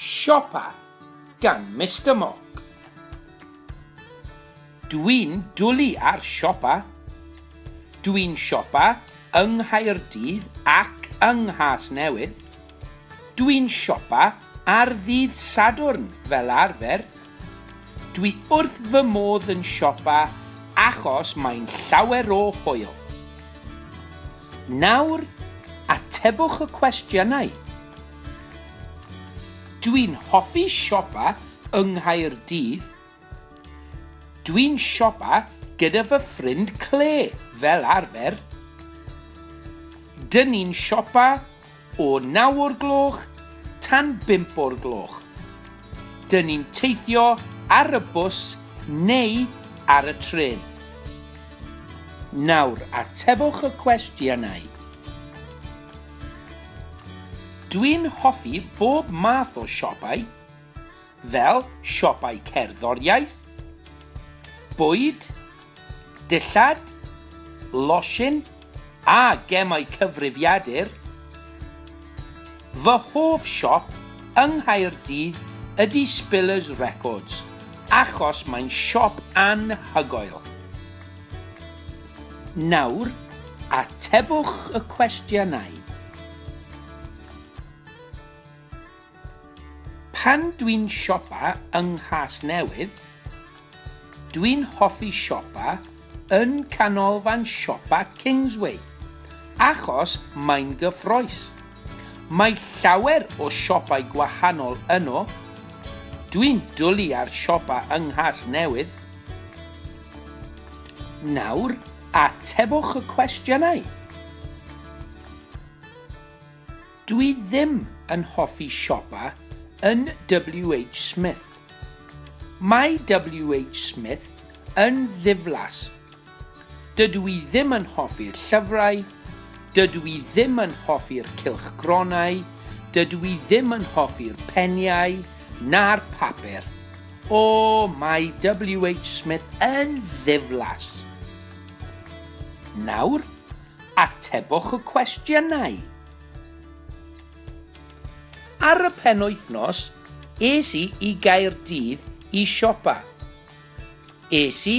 Siopa gan Mister Mock. Dwi'n dwlu ar siopa. Dwi'n siopa yng Nghaerdydd ac yng Nghasnewydd. Dwi'n siopa ar ddydd Sadwrn fel arfer. Dwi wrth fy modd yn siopa achos mae'n llawer o hwyl. Nawr, atebwch y cwestiynau. Dwi'n hoffi siopa yng Nghaerdydd. Dwi'n siopa gyda fy ffrind Claire, fel arfer. Dyn ni'n siopa O naw o'r gloch tan bump o'r gloch. Dyn ni'n teithio ar y bws neu ar y trên. Nawr, atebwch y cwestiynau. Dwi'n hoffi bob math o siopau. fel siopau cerddoriaeth, bwyd, dillad, losin a gemau cyfrifiadur. Fy hoff siop yng Nghaerdydd ydy Spillers Records achos mae'n siop anhygoel. Nawr, atebwch y cwestiynau. Pan dwi'n siopa yng Nghasnewydd, dwi'n hoffi siopa yn canolfan siopa Kingsway achos mae'n gyffrous. Mae llawer o siopau gwahanol yno, dwi'n dwlu ar siopa yng Nghasnewydd. Nawr, atebwch y cwestiynau. Dw i ddim yn hoffi siopa yn WH Smith. Mae WH Smith yn ddiflas. Dydw i ddim yn hoffi'r llyfrau, dydw i ddim yn hoffi'r cylchgronau, dydw i ddim yn hoffi'r peniau na'r papur. O, mae WH Smith yn ddiflas. Nawr, atebwch y cwestiynau. Ar y penwythnos, es i i Gaerdydd i siopa. Es i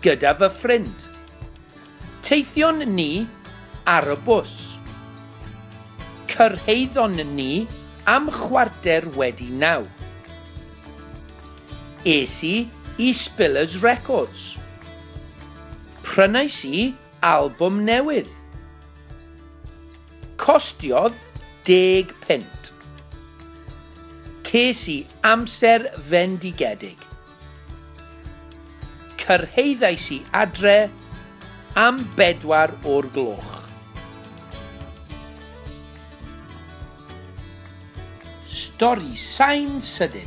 gyda fy ffrind. Teithion ni ar y bws. Cyrhaeddon ni am chwarter wedi naw. Es i i Spillers Records. Prynais i Albwm newydd. Costiodd deg punt. Ces i amser fendigedig. Cyrhaeddais i adre am bedwar o'r gloch. Stori sain sydyn.